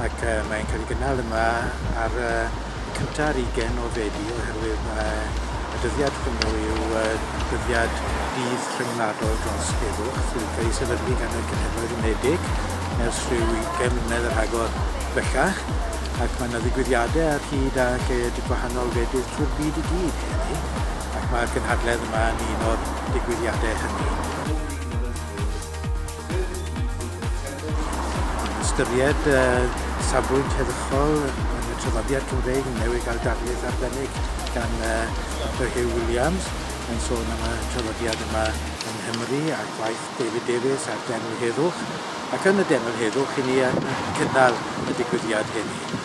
Ac mae'n cael ei gynnal yma ar y cyntaf ar ugain o Fedi oherwydd mae y dyddiad hwnnw yw y dyddiad dydd rhyngwladol dros heddwch sydd wedi cael ei sefydlu gan y Cenhedloedd Unedig ers rhyw ugain mlynedd a rhagor bellach ac mae yna ddigwyddiadau ar hyd a lled gwahanol wledydd trwy'r byd i gyd heddi ac mae'r gynhadledd yma yn un o'r digwyddiadau hynny. Ystyried y safbwynt heddychol yn y traddodiad Cymreig yn newid ar darlith arbennig gan Doctor Huw Williams yn sôn am y traddodiad yma yng Nghymru a gwaith David Davies ar Denw Heddwch ac yn y Denw Heddwch i ni yn cynnal y digwyddiad heddi.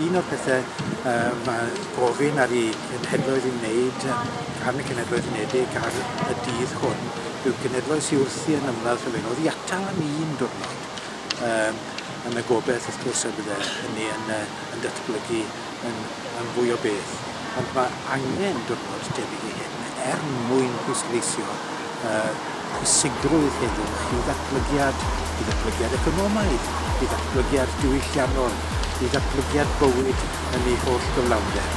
Un o'r pethe yy ma' gofyn ar 'u cenhedloedd i wneud yy gan y Cenhedloedd Unedig ar y dydd hwn yw'r cenhedloedd sy wrthi yn ymladd sylfaenol oddi atal am un diwrnod yym yn y gobeth wrth gwrs y bydde hynny yn yy yn datblygu yn yn fwy o beth ond ma' angen diwrnod tebyg i hyn er mwyn pwysleisio a phwysigrwydd heddwch i ddatblygiad, i ddatblygiad economaidd, i ddatblygiad diwylliannol, i ddatblygiad bywyd yn ei holl gyflawnder.